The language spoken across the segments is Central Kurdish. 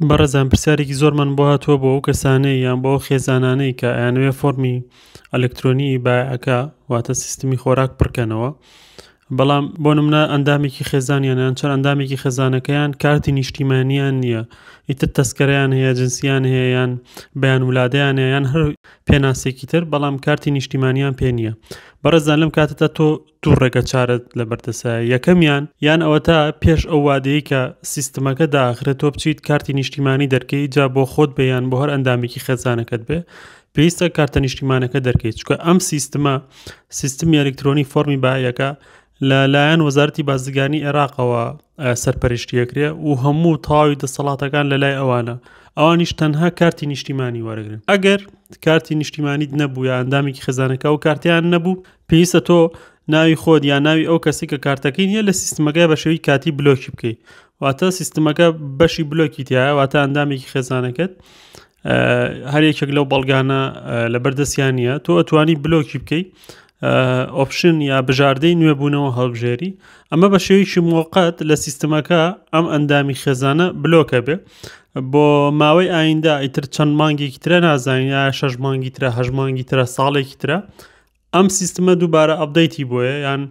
بەڕێزان پرسیارێکی زۆرمان بۆ هاتووە بۆ ئەو کەسانەی یان بۆ خێزانانەی کە ئەیانوێ فۆرمی ئەلکترۆنی بایەکە واتە سیستمی خۆراک پڕکەنەوە بەڵام بۆ نمونە ئەندامێکی خێزانیانیان چەند ئەندامێکی خێزانەکەیان کارتی نیشتیمانیان نییە ئیتر تەسکەریان هەیە جنسیان هەیەیان بەیان ولادەیان یان هەر پێناسێکی تر بەڵام کارتی نیشتیمانیان پێ نییە بەڕێزان لەم کاتتا تۆ دوو ڕێگە چارەت لەبەردەستە، یەکەمیان، یان ئەوەتا پێش ئەو وادەیەی کە سیستمەکە داخرێت تۆ بچیت کارتی نیشتیمانی دەرکەی جا بۆ خۆت بێ یان بۆ هەر ئەندامێکی خێزانەکەت بێ پێویستە کارتە نیشتیمانەکە دەرکەیت چکە ئەم سیستمە سیستمی ئەلکترۆنی فۆرمی باەکە لە لایەن وەزارتی بازرگانی عێراقەوە سەرپەرشتیەکرێ و هەموو تاوی دەسەڵاتەکان لە لای ئەوانە ئەوانیش تەنها کارتی نیشتیمانی وەرەگرن ئەگەر کارتی نیشتیمانیت نەبوو یا ئەندامێکی خزانەکە و کارتیان نەبوو پێویستە تۆ ناوی خۆت یا ناوی ئەو کەسی کە کارتەکەی نیە لە سیستمەکە بە شێوی کاتی بلۆکی بکەیت واتە سیستمەکە بەشی بلۆکی تایە واتە ئەندامێکی خێزانەکەت هەرێکێک لەو بەڵگانە لە بەردەستیان نیە تۆ ئەتوانی بلۆکی بکەیت ئۆپشن یا بژاردەی نوێبوونەوە هەڵبژێری ئەمە بە شێویشی موقت لە سیستمەکە ئەم ئەندامی خێزانە بلۆکە بێ بۆ ماوەی ئایندا ئیتر چەند مانگێکی ترە نازانین یا شەش مانگی ترە هەژمانگی ترە ساڵێکی ترە ئەم سیستمە دووبارە ئەپدەیتی بۆیە یان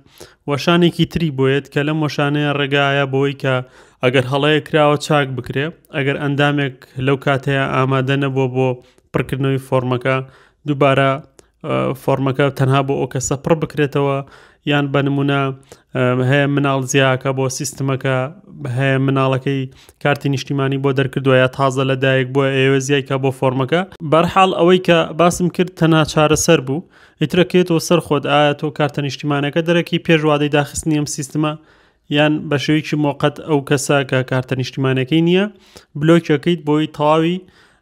وەشانێکی تری بۆیەت کە لەم وەشانەیە ڕێگایە بۆی کە ئەگەر هەڵەیە کراوە چاک بکرێ ئەگەر ئەندامێک لەو کاتەیە ئامادە نەبووە بۆ پڕکردنەوەی فۆرمەکە دووبارە فۆرمەکە تەنها بۆ ئەو کەسە پڕ بکرێتەوە یان بە نمونە هەیە مناڵ زیاکە بۆ سیستمەکە هەیە مناڵەکەی کارتی نیشتیمانی بۆ دەرکردوە یا تازە لە دایک بووە ئێوە زیایکە بۆ فۆرمەکە بەرحاڵ ئەوەی کە باسم کرد تەنا چارەسەر بوو ئیترەکێتەوە سەر خۆت ئایا تۆ کارتە نیشتیمانەکە دەرەکی پێشوادەی داخستنی ئەم سیستمە یان بە شێوەیەکی مۆقەت ئەو کەسە کە کارتە نیشتیمانەکەی نییە بلۆکەکەیت بۆی تەواوی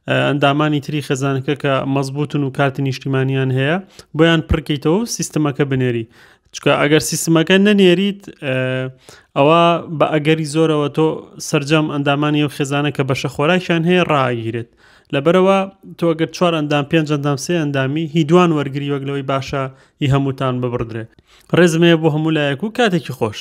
ئەندامانی تری خێزانەکە کە مەزبوتن و کارتی نیشتیمانیان هەیە بۆیان پڕکەیتەوە سیستمەکە بنێری چکە ئەگەر سیستمەکە نەنێریت ئەوە بە ئەگەری زۆرەوە تۆ سرجەم ئەندامانی و خێزانە کە بەشە خۆراکیان هەیە ڕاگیرێت لەبەرەوە تۆگەر چوار ئەندام پێنج ئەندام سێ ئەندامی هی دوان وەرگری وەک لەوەی باشە هی هەمووتان ببڕدرێت ڕێزمەیە بۆ هەموو لایەک و کاتێکی خۆش.